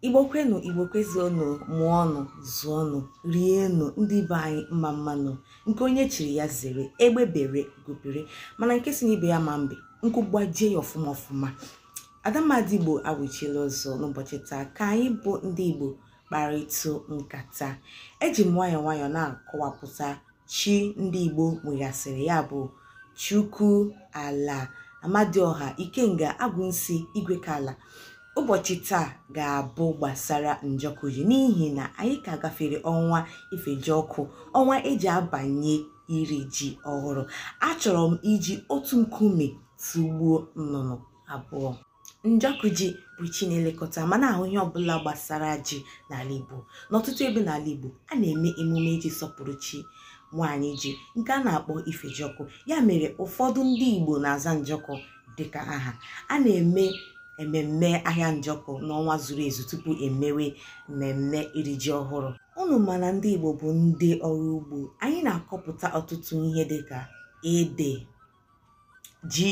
igbo kwenụ igbo kwezuonụ mụọnụ zụọnụ rienụ ndị be anyị mma mma nụ nke onye chiri ya zere egbe bere ugo bere mana nke sị n'ibe ya ma mbe nku gbajie ya ọfụma ọfụma ada ndị igbo awụchiela ọzọ n'ụbọchị taa ka anyị bụ ndị igbo kparịtụ nkata eji m nwayọọ nwayọọ na-akọwapụta chi ndị Igbo nweghasịrị ya bụ Chukwu Ala Amadioha Ikenga Agwụnsi Igwekala ụbọchị taa ga-abụ gbasara njọkụ ji n'ihi na anyị ka gafere ọnwa ifejiọkụ ọnwa eji abanye iri ji ọhụrụ achọrọ m iji otu nkume tụgbuo nnụnụ abụọ njọkụ ji bụ chi na-elekọta ma na-ahụ ihe ọbụla gbasara ji n'ala igbo n'ọtụtụ ebe n'ala igbo a na-eme emume iji sọpụrụ chi nwaanyị ji nke a na-akpọ ifejọkụ ya mere ụfọdụ ndị igbo na-aza njọkụ dịka aha a na-eme ememme ahịa njọkụ n'ọnwa zuru ezu tupu emewe mmemme iri ji ọhụrụ unu ma na ndị igbo bụ ndị ọrụ ugbo anyị na-akọpụta ọtụtụ ihe dịka ede ji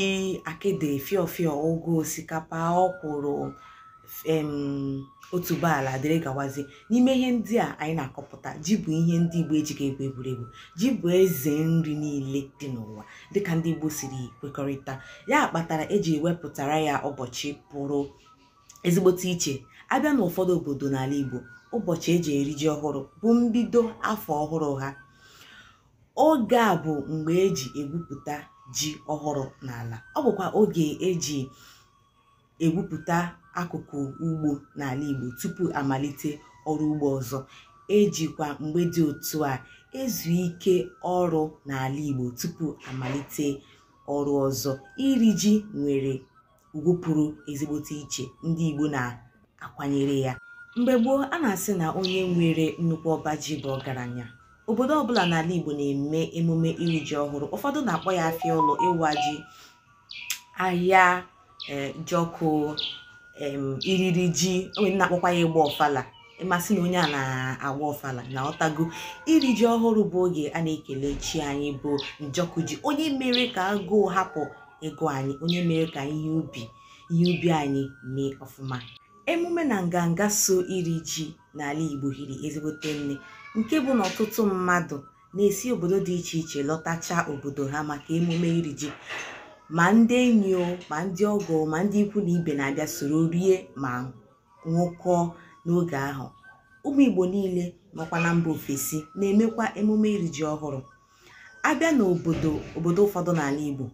akịdị fịọfịọ ụgụ osikapa ọkwụrụ em otuboala dịrị gawazi n'ime ihe ndị a anyị na-akọpụta ji bụ ihe ndị igbo ejighị egwu egwuregwu ji bụ eze nri niile dị n'ụwa dịka ndị igbo siri kwekọrịta ya kpatara eji ewepụtara ya ụbọchị pụrụ ezigbote iche abịa n'ụfọdụ obodo n'ala igbo ụbọchị eji eri ji ọhụrụ bụ mbido afọ ọhụrụ ha oge a bụ mgbe eji egwupụta ji ọhụrụ n'ala ọ bụkwa oge eji egwupụta akụkụ ugbo n'ala Igbo tupu amalite ọrụ ugbo ọzọ ejikwa mgbe dị otu a ezu ike ọrụ n'ala Igbo tupu amalite ọrụ ọzọ iri ji nwere ugwu pụrụ ezigbote iche ndị Igbo na-akwanyere ya mgbe gboo a na-asị na onye nwere nnukwu ọba ji bụ ọgaranya obodo ọbụla n'ala Igbo na-eme emume iri ji ọhụrụ ụfọdụ na-akpọ ya afịa ọlụ ịwa ji ahịajọkụ iriri ji o nwe ndị na-akpọkwa ya ịgba ọfala ị ma sị na onye a na-agba ọfala na ọ tago iri ji ọhụrụ bụ oge a na-ekele chi anyị bụ njọkụ ji onye mere ka agụụ hapụ ịgụ anyị onye mere ka ihe ubi anyị mee ọfụma emume na nganga so iri ji n'ala igbo hiri ezigbote nne nke bụ na ọtụtụ mmadụ na-esi obodo dị iche iche lọtacha obodo ha maka emume iri ji ma ndị enyi o ma ndị ọgọ ma ndị ikwu na ibe na-abịa soro rie ma ṅụkọọ n'oge ahụ ụmụ igbo niile nọkwa na mba ofesi na-emekwa emume iri ji ọhụrụ a bịa n'obodo ụfọdụ n'ala igbo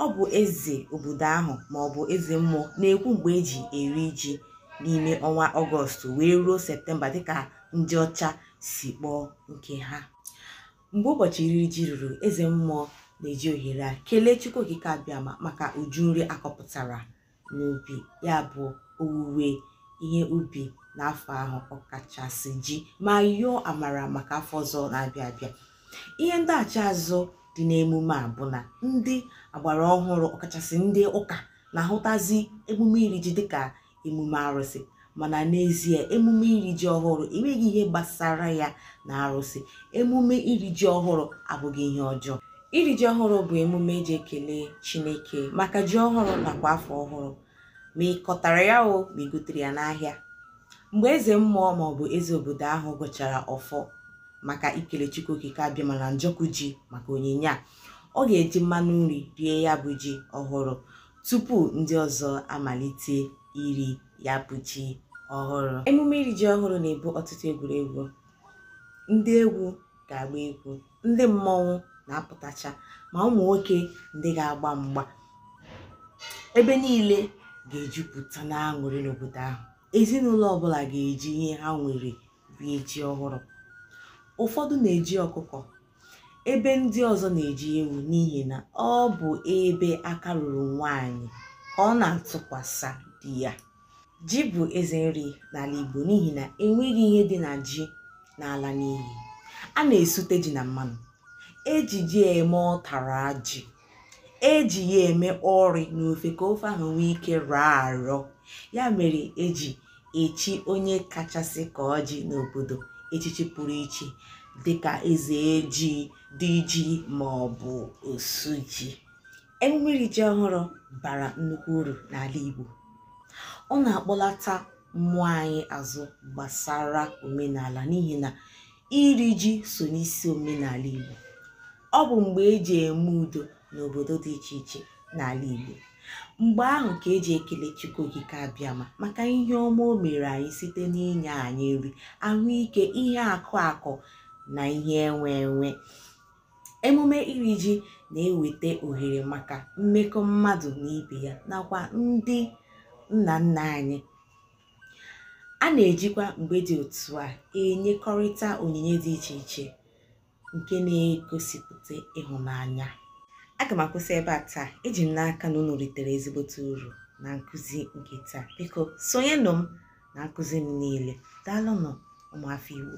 ọ bụ eze obodo ahụ ma ọ bụ eze mmụọ na-ekwu mgbe eji eri ji n'ime ọnwa ọgọstụ wee ruo septemba dịka ndị ọcha si kpọọ nke ha mgbe ụbọchị iri ji ruru eze mmụọ na-eji ohere a kelee chukwu okike abịama maka uju nri a kọpụtara n'ubi ya bụ owuwe ihe ubi n'afọ ahụ ọkachasị ji ma yọọ amara maka afọ ọzọ na-abịa abịa ihe ndaghachi azụ dị n'emume a bụ na ndị agbara ọhụrụ ọkachasị ndị ụka na-ahụtazi emume iri ji dịka emume arụsị mana n'ezie emume iri ji ọhụrụ enweghị ihe gbasara ya na arụsị emume iri ji ọhụrụ abụghị ihe ọjọọ iri ji ọhụrụ bụ emume eji ekele chineke maka ji ọhụrụ nakwa afọ ọhụrụ ma ị kọtara ya o ma i gotere ya n'ahịa mgbe eze mmụọ maọbụ eze obodo ahụ gọchara ọfọ maka ikele chukwu okike abịama na njọkụ ji maka onyinye a ọ ga-eji mmanụ nri rie ya bụ ji ọhụrụ tupu ndị ọzọ amalite iri ya bụ ji ọhụrụ emume iri ji ọhụrụ na-ebu ọtụtụ egwuregwu ndị egwu ga-agba egwu ndị mmọnwụ na-apụtacha ma ụmụ nwoke ndị ga-agba mgba ebe niile ga-ejupụta n'aṅụrị n'obodo ahụ ezinụlọ ọbụla ga-eji ihe ha nwere rie ji ọhụrụ ụfọdụ na-eji ọkụkọ ebe ndị ọzọ na-eji ewu n'ihi na ọ bụ ebe aka ruru nwaanyị ka ọ na-atụkwasa di ya ji bụ eze nri n'ala Igbo n'ihi na enweghị ihe dị na ji na-ala n'iyi a na-esute ji na mmanụ eji ji eme ụtara ji eji ya eme ọrị n'ofe ka ofe ahụ nwee ike rọọ arọ ya mere eji echi onye kachasị akọ ji n'obodo echichi pụrụ iche dịka eze ji di ji ma ọ bụ osu ji emume iri ji ọhụrụ bara nnukwu uru n'ala Igbo ọ na-akpọlata mmụọ anyị azụ gbasara omenala n'ihi na iri ji so n'isi omenala Igbo ọ bụ mgbe eji eme udo n'obodo dị iche iche n'ala Igbo mgbe ahụ ka eji ekele Chukwu Okike Abịama maka ihe ọma o mere anyị site n'inye anyị nri ahụike ihe akụ akụ na ihe enwe enwe emume iri ji na-eweta ohere maka mmekọ mmadụ na ibe ya nakwa ndị nna nna anyị a na-ejikwa mgbe dị otu a enyekọrịta onyinye dị iche iche nke na-egosipụta ịhụnanya aga m akwụsị ebe a taa eji m n'aka na unu ritere ezigbote uru na nkụzi nke taa biko sonyenụ m na nkụzi m niile daalụnụ ụmụafọ Igbo